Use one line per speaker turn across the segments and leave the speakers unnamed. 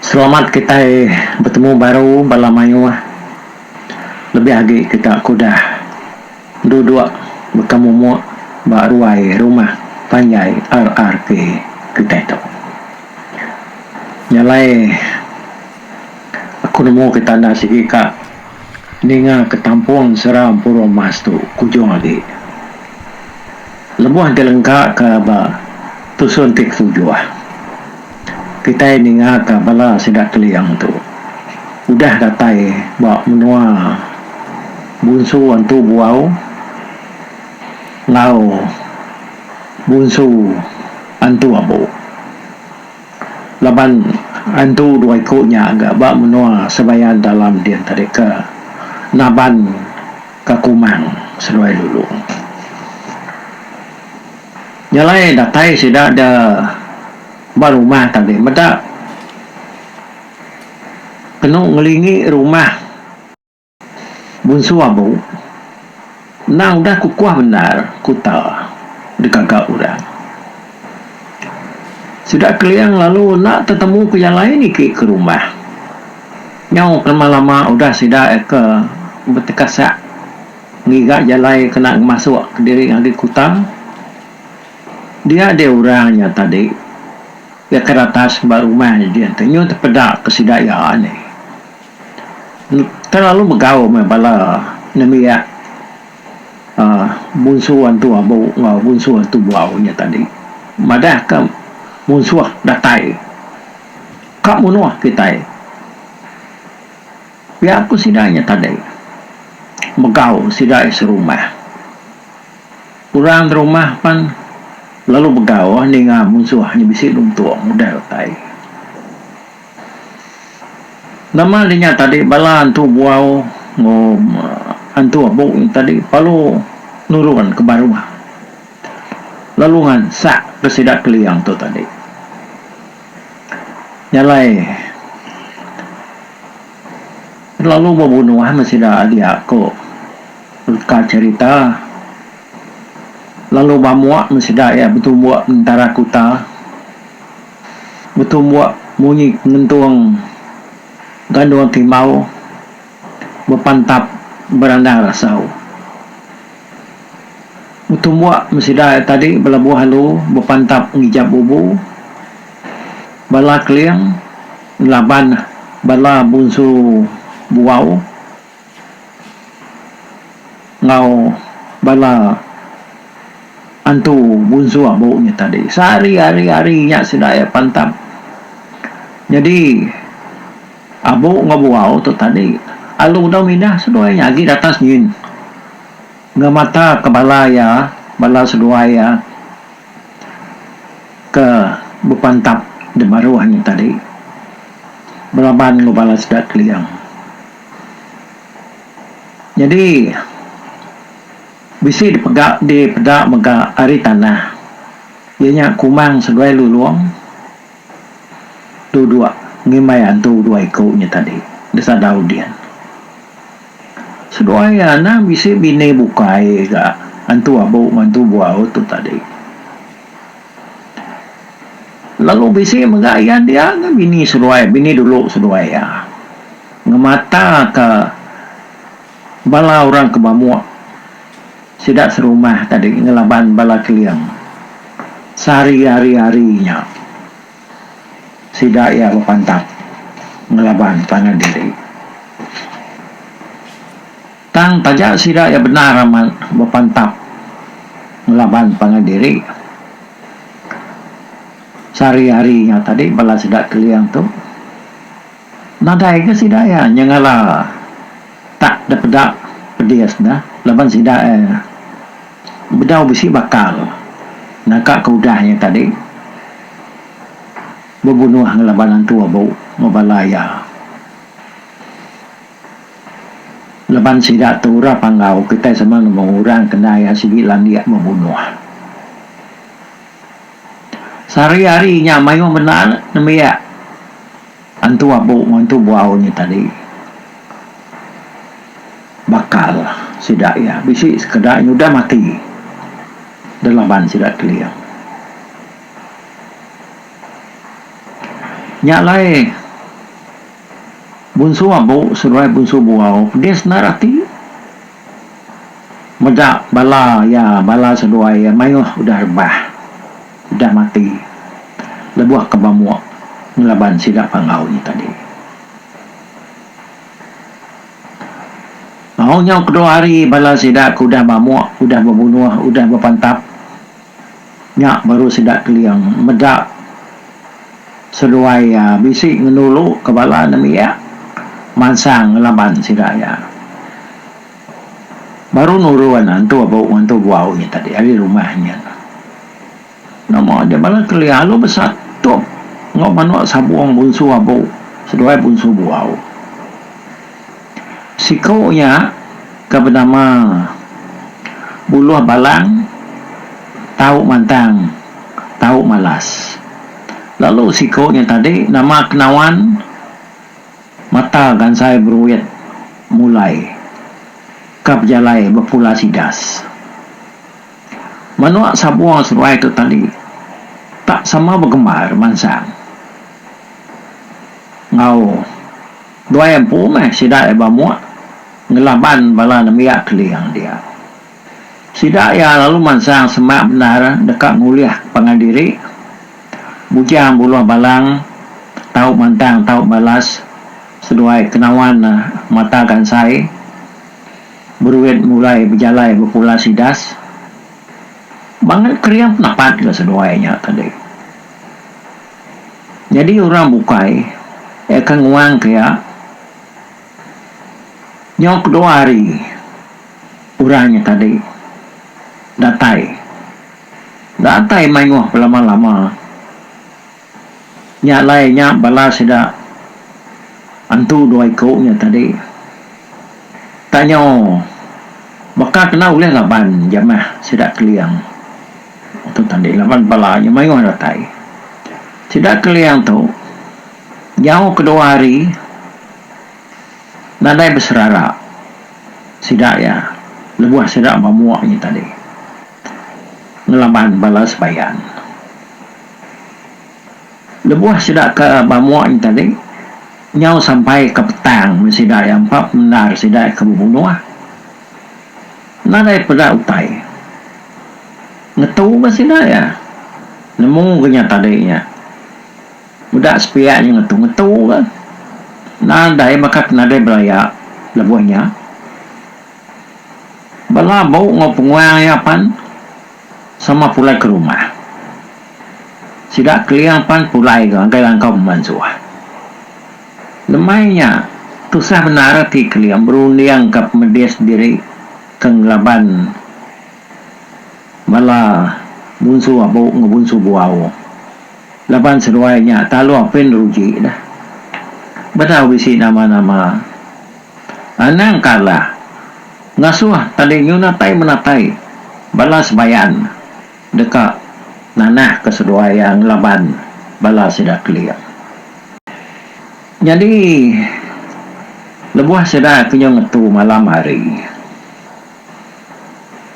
Selamat kitai betemu baru bala mayuh. Lebih agi kita ke udah duduk baka mumuk ba ruai rumah panjai RRK kitai tu. Nya alai aku nemu kita enda sigi ka ninga ke tampung sera empu ruang emas tu kujung agi. Lebuh ti lengka ke ba tusun ti ketujuh, kitai ninga ka bala sida Keling tu udah datai ba menua Bunsu Antu Buau enggau Bunsu Antu Abu. Laban antu dua iku nya ga ba menua Sebayan Dalam din tadi ke Naban. Ka Kumang seduai Lulu. Nya alai datai sida da ba rumah tadi meda kenu ngelingi rumah Bunsu Abu endang udah kukuh bendar kuta digaga orang. Sida Keling lalu enda tetemu ku jalai niki ke rumah. Nyau kelama-lama udah sida ke betekasak ngiga jalai kena ngemasuk kediri ngagai kuta, dia dia orang nya tadi iya ke ratas ba rumah nya dih enti nyu tepeda ke sida iya nih terlalu megau meh bala nembiak aaa munsuh antu abu enggau munsuh antu buau nya tadi madah ke munsuh datai. Ka munuh kitai. Pia ku sida nya tadi, begau sida serumah. Orang derumah pan lalu begau ninga munsuh nya bisi nuntung udah retai. Nama deh nya tadi bala antu buau enggau antu abu nya tadi palu nurun ke baruh lalu ngansak ke sida Keling tu tadi. Nya alai lalu bebunuh meh sida adia ku ka cherita lalu ba mua meh sida iya betumbuk ngentara kuta betumbuk munyi ngentung gandung timau. Bepantap berandang rasau. Betumbuk mesida iya tadi belabuh alu bepantap ngijap bubu. Bala Keling ngelaban bala bunsu buau enggau bala antu bunsu abu nya tadi. Sehari-hari hari nya sida iya pantap. Nyadi. Abu enggau buau tu tadi alu dau mindah seduai iya agi datas nyin ngemata ke bala iya bala seduai iya ke bepantap di baruh nyin tadi belaban enggau bala sida Keling. Nyadi bisi dipega dipeda mega ari tanah iya nya Kumang seduai Lulong. Tu dua ngimbai antu dua iku nya tadi deka daun dian. Seduai anang bisi bini bukai ga antu abu enggau antu buau tu tadi. Lalu bisi mega iya dia enggau bini seduai bini dulu seduai iya ngemataka bala orang ke bamuk. Sida serumah tadi ngelaban bala Keling sehari-hari-hari nya. Sida iya bepantap ngelaban tanah diri. Tang taja sida iya bendar amat bepantap ngelaban tanah diri. Sehari-hari nya tadi bala sida Keling tu. Nadai ga sida iya nyengala tak depeda pedis neh laban sida iya bedau bisi bakal naka ke udah iya tadi bebunuh ngelaban antu abu enggau bala iya laban sida tu ura panggau kitai sama nemu orang ke enda iya sigi landik bebunuh. Sehari hari nya mayuh bendar nembiak. Antu abu ngantu buau nya tadi bakal sida iya bisi sekeda nyudah mati da laban sida Keling. Nya alai bunsu abu seduai bunsu buau pedis endar ati. Mega bala iya, bala seduai iya mayuh udah rebah, udah mati lebuh ke bamuk ngelaban sida panggau nya tadi. Tau nyau kedua hari bala sida ke udah bamuk, udah bebunuh, udah bepantap. Nya baru sida Keling meda seduai iya bisi ngenulu ke bala nembiak mansang ngelaban sida iya. Baru nurun antu abu enggau antu buau nya tadi ari rumah nya. Nama nya bala Keling alu besatup enggau manuk sabung bunsu abu seduai bunsu buau. Siku iya ke benama Buluh Balang tau mantang, tau malas. Lalu siku iya tadi nama Kenawan mata gansai beruit mulai ke bejalai bepula sidas. Menua Sabong seduai tu tadi tak sama begemar mansang enggau. Tuai empu meh sida iya bamuk ngelaban bala nembiak Keling dia. Sida iya lalu mansang semak bendar deka ngulih pangan diri, bujang buluh balang, tau mantang tau balas seduai kenawan mata gansai beruit mulai bejalai bepulas idas. Bangat Keling penapat ga seduai nya tadi. Nyadi orang bukai iya ke nguang ke iya. Nyau kedua hari orang nya tadi datai. Datai mayuh belama-lama. Nya alai nya bala sida antu dua iku nya tadi. Tak nyau baka kena ulih laban jamah sida Keling. Tu tadi laban bala nya mayuh datai. Sida Keliang tu jauh kedua hari nadai beserara sida iya lebuh sida ba mua nya tadi ngelaban bala sebayan. Lebuh sida ke ba mua nya tadi nyau sampai ke petang meh sida iya empa pemendar sida iya ke bebunuh nadai peda utai. Ngetu ga sida iya. Nemu ga nya tadi iya. Udah sepiak nya ngetu ngetu ga. Nadai baka ke nadai belaya lebuh nya. Belabu enggau penguang iya pan sama pulai ke rumah. Sida Keling pan pulai ga ngagai langkau pemansuh. Lemai nya, tusah bendar ati kelia berunding ka pemedis diri ke ngelaban bala bunsu abu enggau bunsu buau laban seduai nya talu apin ruji deh. Bedau bisi nama-nama, anang ka alah ngasuh tali nyunatai-menatai bala sebayan. deka nanah ke seduai iya ngelaban bala sida keling. Nyadi lebuh sida kenyau ngetu malam hari,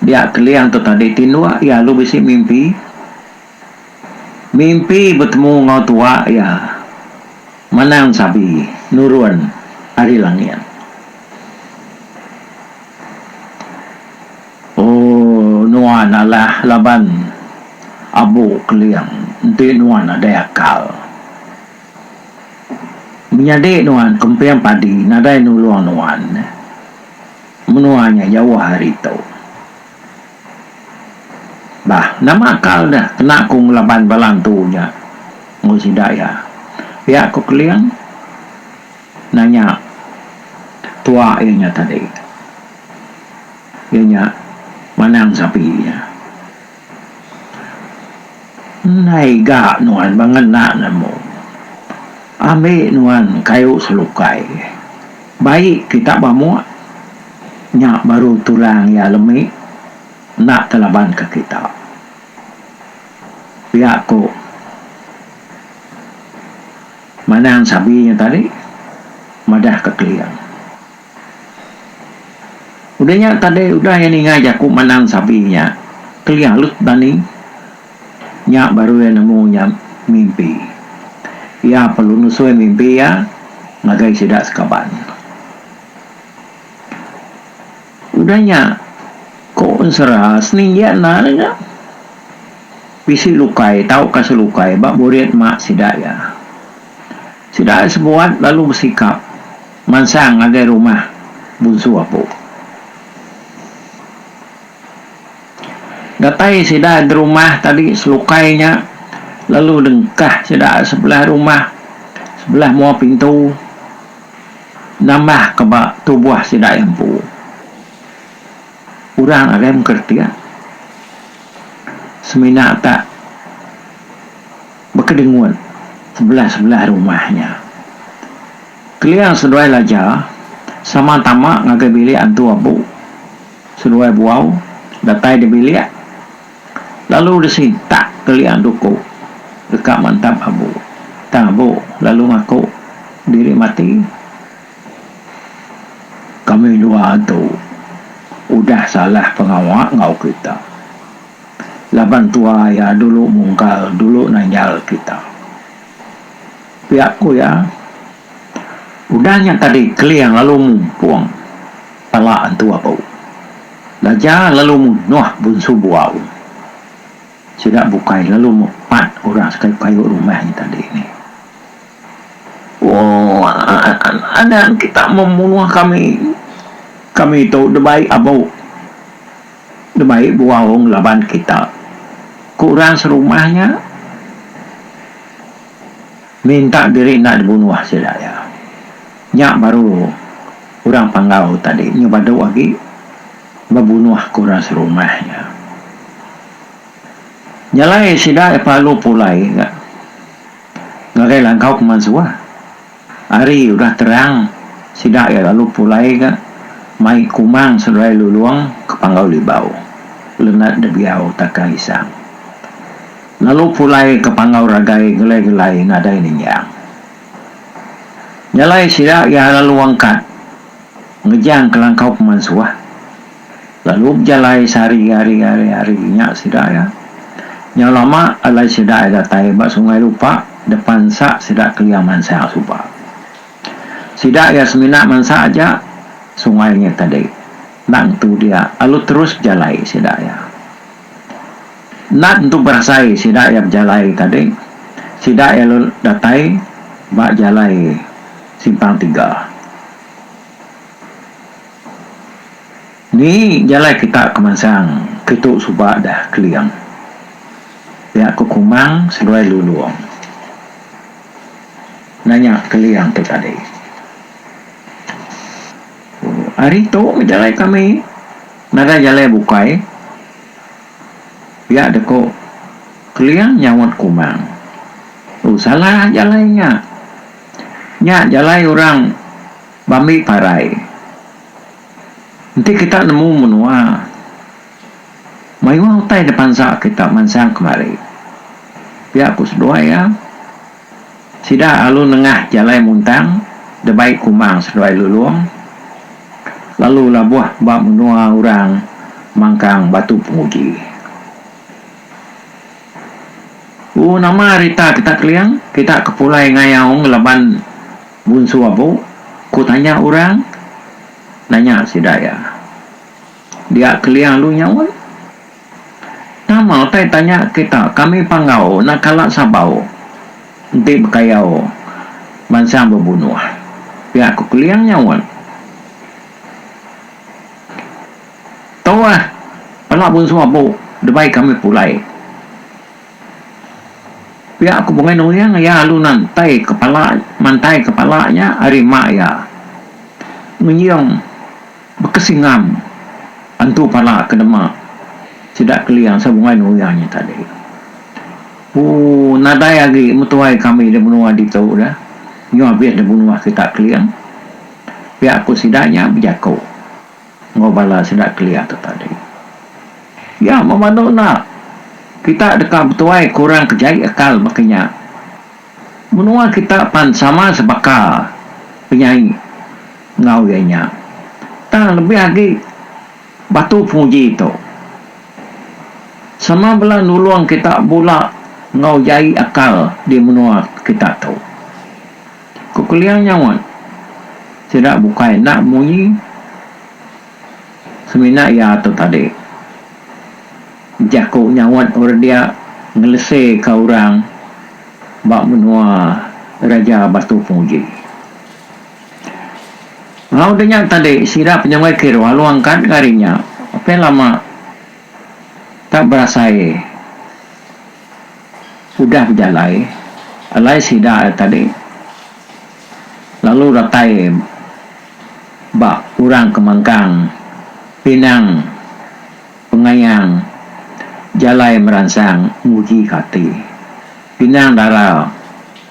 dia keling tu tadi tinduk iya lalu bisi mimpi, mimpi betemu enggau tua iya manang sabi nurun ari langit. Ooh nuan alah laban abu keling enti nuan nadai akal. Menyadi nuan kemping padi nadai nulung nuan menua nya jauh ari tu. Bah nama akal ne kena aku ngelaban bala antu nya enggau sida iya. Pia ku keling. Nanya tuak iya nya tadi. Iya nya manang sapi iya. Ndai ga nuan ba ngena nemu. Ambi nuan kayu selukai. Bai kita ba muk. Nya baru tulang iya lemi enda telaban ke kita. Pia ku. Manang sabi nya tadi madah ka Keling. Udah nya tadi udah iya ninga jaku Manang sabi nya, Keling alut dani. Nya baru iya nemu nya mimpi. Iya perlu nusui mimpi iya ngagai sida sekaban. Udah nya, ko Ensera, Seninggiak enda le nya. Bisi lukai tauka selukai ba burit mak sida iya. Sida ai sebuat lalu besikap mansang ngagai rumah Bunsu Apu. Datai sida gerumah tadi selukai nya lalu dengkah sida sebelah rumah, sebelah mua pintu. Nambah ka ba tubuh sida empu. Orang agai mengkeritik semina ka bekedengut sebelah-sebelah rumah nya. Keling seduai laja sama tama ngagai bilik antu abu seduai buau datai di bilik. Lalu disintak kelia duku deka mantap abu. Tang abu lalu ngaku diri mati. Kami dua tu udah salah pengawa enggau kita. Laban tua iya dulu mungkal dulu nanjal kita. Pia ku iya, udah nya tadi Keling lalu mumpung. Pala antu abu. Laja lalu munuh bunsu buau. Sida bukai lalu mepat orang sekai payu rumah nya tadi ni. Ooh anang kita memunuh kami. Kami tu da baik abu. Da baik buau ngelaban kita. Ku orang serumah nya. Minta diri enda dibunuh sida iya. Nya baru orang Panggau tadi nyu badu agi bebunuh ke orang serumah iya. Nya alai sida iya pelalu pulai ga ngagai langkau pemansuh. Hari udah terang sida iya lalu pulai ga mai Kumang Seduai Lulong ke Panggau Libau, Lenat Debiau, Takang Isang. Lalu pulai ke panggau ragai gelai-gelai nadai ninjang. Nya alai sida iya lalu angkat ngejang kelangkau pemansuh. Lalu bejalai sehari hari hari hari nya sida iya. Nyau lama alai sida iya datai ba Sungai Lupak depan nsa sida kelia mansang suba. Sida iya semina mansa aja sungai nya tadi. Enda ngetu dia lalu terus bejalai sida iya. Nat tu berasai sida iya bejalai tadi sida iya lalu datai ba jalai simpang tiga. Ni jalai kita ke mansang kitu suba dah keling pia ke kumang seduai lulong nanya keling tu tadi. Hari tu jalai kami. Nadai jalai bukai, pia deh ko Keling nyaut Kumang. Tu salah jalai nya. Nya jalai orang bambi parai. Enti kita nemu menua, mayuh utai dipansa kita mansang kemari. Pia ku seduai iya. Sida lalu nengah jalai muntang debai kumang seduai lulong lalu labuh ba menua orang mangkang batu penguji. U nama rita kita Keling, kita ke pulai ngayau ngelaban Bunsu Abu? ku tanya orang nanya sida iya. Dia Keling alu nyaut. Nama utai tanya kita kami panggau nak kala sabau enti bekayau bansa bebunuh pia ku Keling nyaut. Tu ah pala bunsu abu debai kami pulai pia ku Bungai Nuling iya lalu nantai kepala mantai kepala nya ari mak iya ngenjing Baka singam antu pala ke dema sida Keling sabuai nuya nya tadi. Ooh nadai agi metuai kami di menua ditu da nyu abis da menua kita Keling. Pia ku sida nya bejaku enggau bala sida Keling tu tadi. Ya memadu enda kita deka betuai kurang ke jai akal baka nya. Menua kita pan sama sebaka penyai enggau iya nya. Tang lebih agi batu penguji tu sama bela nulung kita bula enggau jai akal di menua kita tu. Ku Kelia nyaut sida bukai enda munyi semina iya tu tadi. Jaku nyaut orang dia ngelese ka orang ba menua Raja Batu Penguji. Enggau udah nya tadi sida penyunggai kiru alu angkat ga ari nya pia lama tak berasai udah bejalai alai sida nya tadi lalu datai ba orang ke mangkang pinang Pengayang jalai meransang ngujika ati. Pinang dara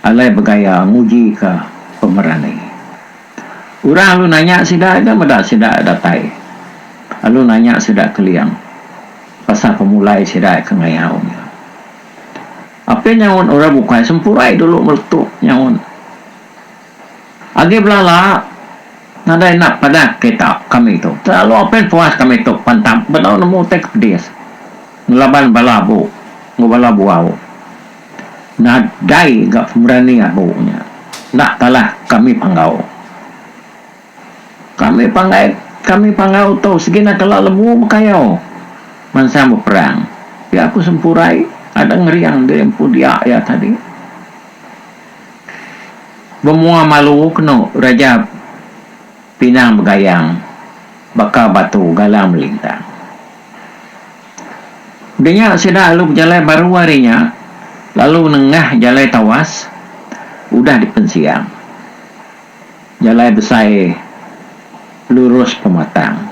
alai begaya ngujika pemerani. Orang alu nanya sida ega meda sida datai. Alu nanya sida keling pasal pemulai sida ke ngayau nya. Apin nyaut orang bukai sempurai dulu meletup nyaut. Agi belala nadai enda padah kita kami tu. Telalu apin puas kami tu pantap bedau nemu utai ke pedis ngelaban bala abu enggau bala buau. Nadai ga pemberani abu nya enda talah kami panggau. Kami pangai kami pangai utuh segina kala lemu bekayau mansang beperang. Pia ku Sempurai ada ngeriang diri empu dia iya tadi. Bemua malu kenu Raja Pinang Begayang baka batu galang melintang. Dinya sida lalu bejalai baru ari nya lalu nengah jalai tawas udah dipensiang. Jalai besai lurus pematang.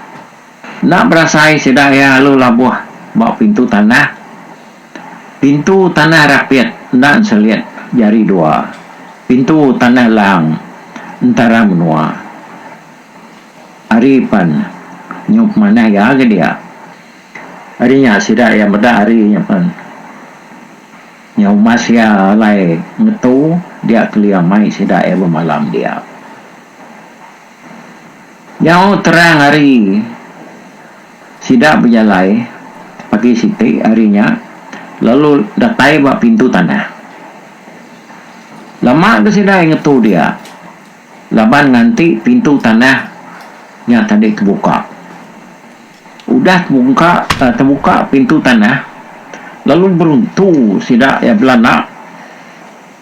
Enda berasai sida iya lalu labuh ba pintu tanah. Pintu tanah rapit enda enselit jari dua pintu tanah lang entara menua. Ari pan nyau pemanah iya ke dia. Ari nya sida iya meda ari nya pan. Nya umas iya alai ngetu dia kelia mai sida iya bemalam dia. Nyau terang hari sida bejalai pagi siti hari nya lalu datai ba pintu tanah. Lama ke sida iya ngetu dia laban nganti pintu tanah nya tadi kebuka. Udah tebungka tebuka pintu tanah lalu beruntu sida iya belanda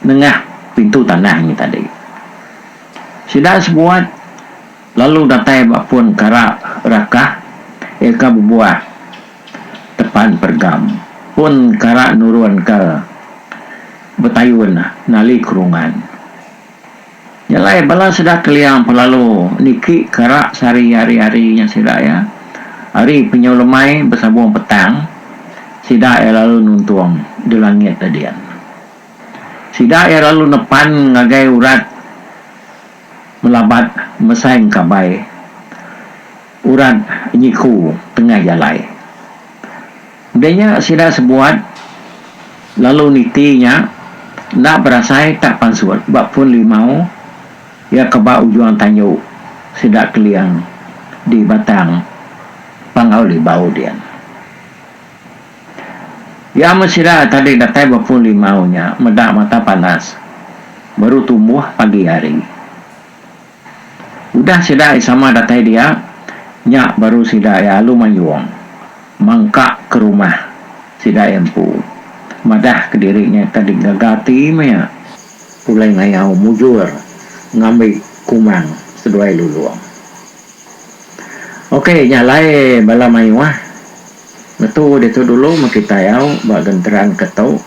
nengah pintu tanah ngi tadi. Sida sebuat lalu datai ba pun kara rakah iya ka bebuah tepan pergam. Pun kara nurunka betayun nali kerungan. Nya alai bala sida Keliang Pelalu niki kerak sehari hari-hari nya sida iya. Hari penyau lemai besabung petang sida iya lalu nuntung di langit da dian. Sida iya lalu nepan ngagai urat melabat mesai engkabai urat nyiku tengah jalai. Udah nya sida sebuat lalu niti nya enda berasai tak pansut ba pun limau iya ke ba ujung tanju sida Keling di Batang Panggau Libau din. Iya amat sida tadi datai ba pun limau nya meda mata panas baru tumbuh pagi hari. Udah sida ai sama datai dia, nya baru sida ai alu mayung mangka ke rumah sida ai empu. Madah kediri nya tadi gaga ati maya pulai ngayau mujur ngambi kumang seduai lulung. Okey nya alai bala mayuh ngetu ditu dulu meh kitai au ba genteran ke tu.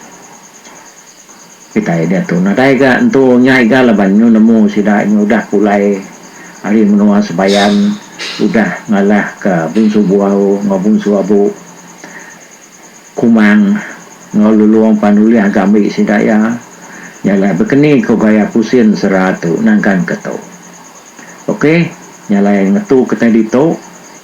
Kitai diatu nadai ga entu nyai ga laban nyu nemu sida nyu udah pulai ari menua Sebayan udah ngalah ka Bunsu Buau enggau Bunsu Abu Kumang enggau Lulong pan ulih ga ambi sida iya nyalai bekeni ko gaya pusin sera tu nangkan ke tu. Ok nyalai ngetu kitai ditu.